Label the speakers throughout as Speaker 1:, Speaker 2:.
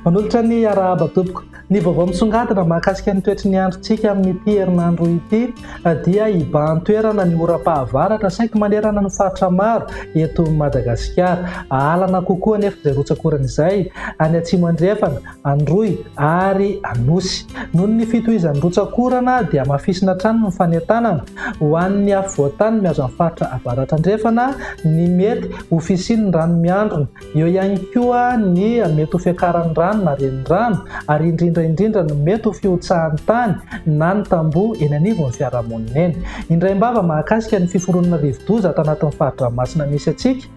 Speaker 1: Manolotra ny arahaba tompoko. Ny vaovao misongadina mahakasika ny toetry ny androntsika amin'ity herinandro ity eh, dia hibahan-toerana ny oram-pahavaratra saika manerana ny faritra maro eto Madagasikara. Ahalana kokoa anefa izay rotsakorana izay any atsimo andrefana Androy ary Anosy. Noho ny fitohizan'ny rotsak'orana dia hamafisina hatrany ny fanentanana ho an'ny afovoantany mihazo an'ny faritra Avaratrandrefana ny mety ho fisian'ny rano miandrona, eo ihany koa ny mety ho fiakaran'ny rano na renirano ary indrindra indrindra ny mety ho fihotsahan'ny tany na ny tamboho eny anivon'ny fiarahamonina eny. Indraim-bava mahakasika ny fiforonana rivodoza ato anatin'ny fari-dranomasina misy antsika.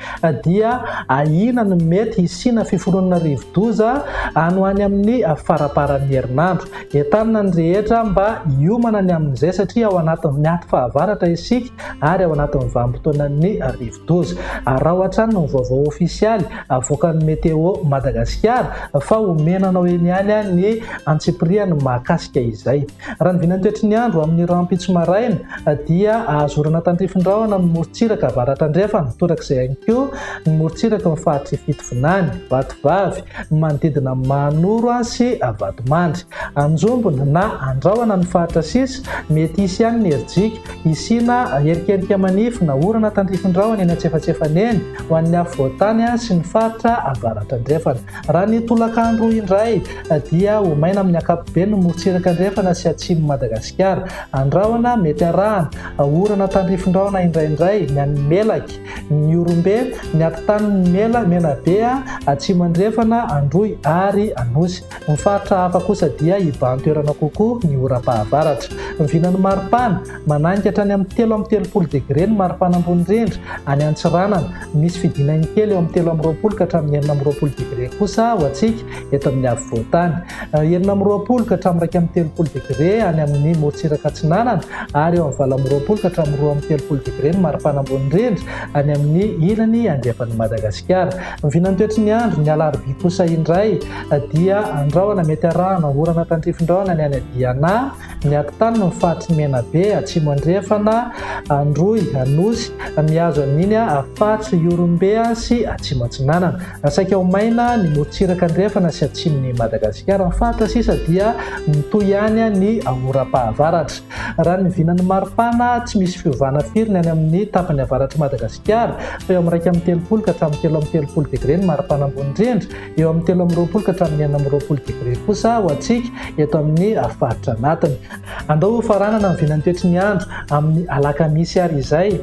Speaker 1: dia ahiana ny mety hisiana fiforonana rivodoza any ho any amin'ny faraparan'ny herinandro. Entanina ny rehetra mba hiomana ny amin'izay satria ao anatin'ny aty fahavaratra isika ary ao anatin'ny vanim-potoanan'ny rivodoza. Araho hatrany ny vaovao ofisialy avoakan'ny Météo Madagasikara fa omena anao eny ihany ny antsipiriany mahakasika izay. Raha ny vinan'ny toetry ny andro amin'ny rahampitso maraina dia ahazorana tandrifin-drahona amin'ny morontsiraka avaratra-andrefana, torak'izay ihany koa ny morontsiraka amin'ny faritry i Fitovinany, Vatovavy, ny manodidina an'i Mahanoro sy Vatomandry. Anjombona na andrahona ny faritra sisa, mety hisy ihany ny herijika, hisiana erikerika manify na orana tandrifin-drahona eny antsefatsefany eny ho an'ny afovoan-tany sy ny faritra avaratra-andrefana. Raha ny tolakandro indray dia ho maina amin'ny ankapobeny ny morontsiraka andrefana sy atsimon'i Madagasikara. Andrahona mety arahana orana tandrifindrahona indraindray ny any Melaky, Miorombe, ny atitanon'ny Mela, Menabe, Atsimo Andrefana, Androy ary Anosy. Ny faritra hafa kosa dia hibahan-toerana kokoa ny oram-pahavaratra. Vinan'ny maripana, Manainga hatrany amin'ny telo amby telopolo degre ny maripana ambony indrindra any Antsiranana. Misy fidinany kely eo amin'ny telo amby roapolo ka hatramin'ny enina amby roapolo degre kosa ho antsika eto amin'ny afovoan-tany. Eh, enina amby roapolo ka hatramin'ny iraika amby telopolo degre any amin'ny morontsiraka atsinanana ary eo amin'ny valo amby roapolo ka hatramin'ny roa amby telopolo degre ny maripana ambony rindra any amin'ny ilany andrefan'i Madagasikara. Ny vinantoetry ny andro ny alarobia kosa indray eh, dia andrahona mety arahana orana tandrifindrahona ny any Diana, Miato tany ny faritry ny Menabe, Atsimo Andrefana, Androy, Anosy, mihazo an'iny faritry Ihorombe sy Atsimo Atsinanana. Saika ho maina ny morontsiraka andrefana sy atsimon'i Madagasikara. Ny faritra sisa dia mitohy ihany ny oram-pahavaratra. Raha ny vinan'ny maripana, tsy misy fiovana firy ny any amin'ny tapany avaratr'i Madagasikara, fa eo amin'ny iraika amby telopolo ka hatramin'ny telo amby telopolo degre ny maripana ambony indrindra, eo amin'ny telo amby roapolo ka hatramin'ny enina amby roapolo degré kosa ho antsika eto amin'ny faritra anatiny. Andao ho faranana ny vinan'ny toetry ny andro amin'ny alakamisy ary izay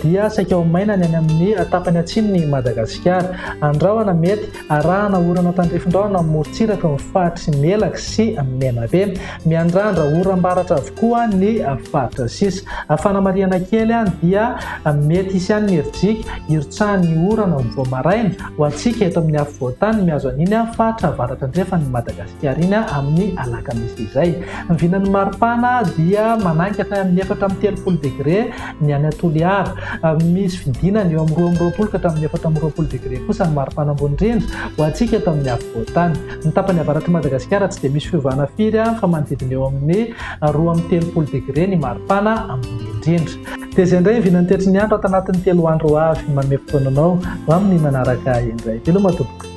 Speaker 1: dia saika ho maina ny any amin'ny tapany atsimon'i Madagasikara. Andrahona mety arahana orana tandrifin-drahona amin'ny morontsiraka ny faritry Melaky sy Menabe. Miandrandra oram-baratra avokoa ny faritra sisa. Fanamarihana kely dia mety hisy ihany ny herijika hirotsahan'ny orana vao maraina Ho antsika eto amin'ny afovoan-tany mihazo an'iny faritra avaratra andrefan'i Madagasikara iny amin'ny alakamisy izay. Ny vinan'ny maripana dia manangy hatrany amin'ny efatra amby telopolo degre ny any Toliara. Misy fidinana eo amin'ny roa amby roapolo ka hatramin'ny efatra amby roapolo degre kosa ny maripana ambony indrindra ho antsika eto amin'ny afovoan-tany. Ny tapany avaratr'i Madagasikara tsy dia misy fiovana firy fa manodidina eo amin'ny roa amby telopolo degre ny maripana ambony indrindra. Dia izay indray ny vinantetry ny andro ato anatin'ny telo andro ho avy. Manome fotoana anao ho amin'ny manaraka indray. Veloma tompoko.